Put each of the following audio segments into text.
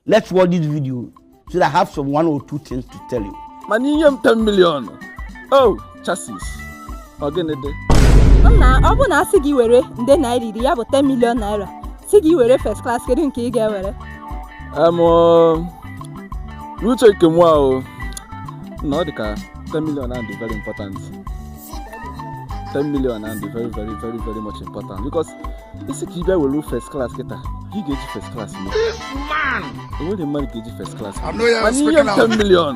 Let's watch this video so that I have some one or two things to tell you. mana inye m 10 million oh chassis ọ gịnị dị nna ọ bụrụ na a sị gị were nde naira iri ya bụ 10 million naira sị gị were first class kedu nke ị ga-ewere em ọ, n'uche nke mụwa na ọ dị ka 10 million ahụ dị very important 10 million ahụ dị very very very very much important because ị sị ka ị bịa were first class kịta ka ị ga-eji first class mee enweghị mmadụ ga-eji first class mana inye m 10 million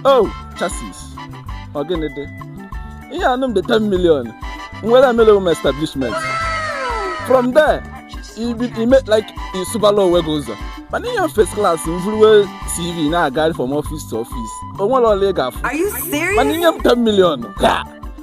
oh chassis ọ gịnị dị inyenụ m the 10 million m were ya mele m establishment from there i mee like ị sụbala onwe gị ụzọ mana inye first class m vuruwe cv na-agagharị from office to office o nwere ọlụ ị ga-afụ mana inye m 10 million ka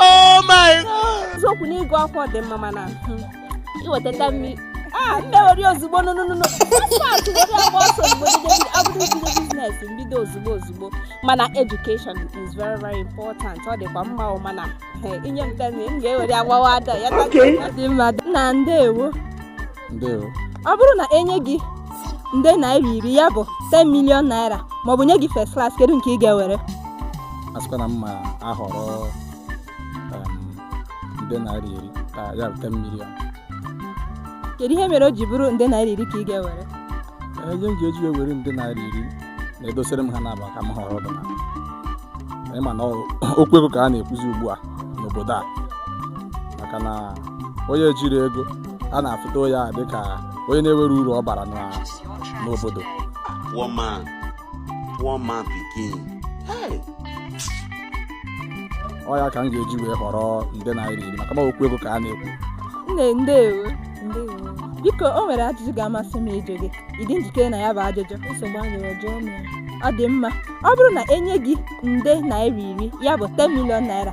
Oh my God! Eziokwu na ịgụ akwụkwọ dị mma mana hmm, iweta 10 million. Ah, mụ ewere ozugbo now now now now. Fast were ya gbaa ọsọ ozugbo bido abụrụ bido business m bido ozugbo ozugbo. Mana education is very very important. Ọ dịkwa mma o mana eh, inye m 10 million m ga-ewere ya gbawaa door. Ya dị mma nna ndewo. ọ bụrụ na enye gị nde naira iri ya bụ 10 million naira maọbụ nye gị first class kedu nke ị ga-ewere a sịkwa na m ga-ahọrọ nde naira iri ya bụ 10 million kedu ihe mere o ji bụrụ nde naira iri ka ị ga-ewere ihe m ga-eji ewere nde naira iri na e dosere m ha naabọ ka m họrọ otu na ị ma na okwu ego ka a na-ekwuzi ugbu a n'obodo a maka na onye ejirọ ego a na-afụta ya dịka onye na-enwerọ uru ọ bara na- n'obodo poor man poor man pikin hey ọ ya ka m ga-eji wee họrọ nde naira iri maka na okwu ego ka a na-ekwu nne ndewo ndewo biko o nwere ajụjụ ga-amasị m ịjụ gị ị dị njikere na ya bụ ajụjụ nsogbu adịrọ jụọ m ya ọ dị mma ọ bụrụ na enye gị nde naira iri ya bụ 10 million naira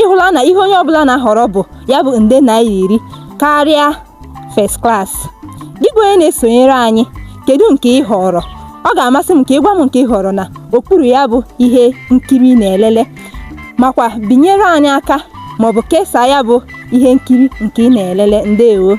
ịhụla na ihe onye ọbụla na-ahọrọ bụ ya bụ nde naira iri karịa first class gị bụ onye na-esonyere anyị kedu nke ị họrọ ọ ga-amasị m ka ị gwa m nke ị họrọ na okpuru ya bụ ihe nkiri ị na-elele makwa binyere anyị aka maọbụ kesaa ya bụ ihe nkiri nke ị na-elele ndewo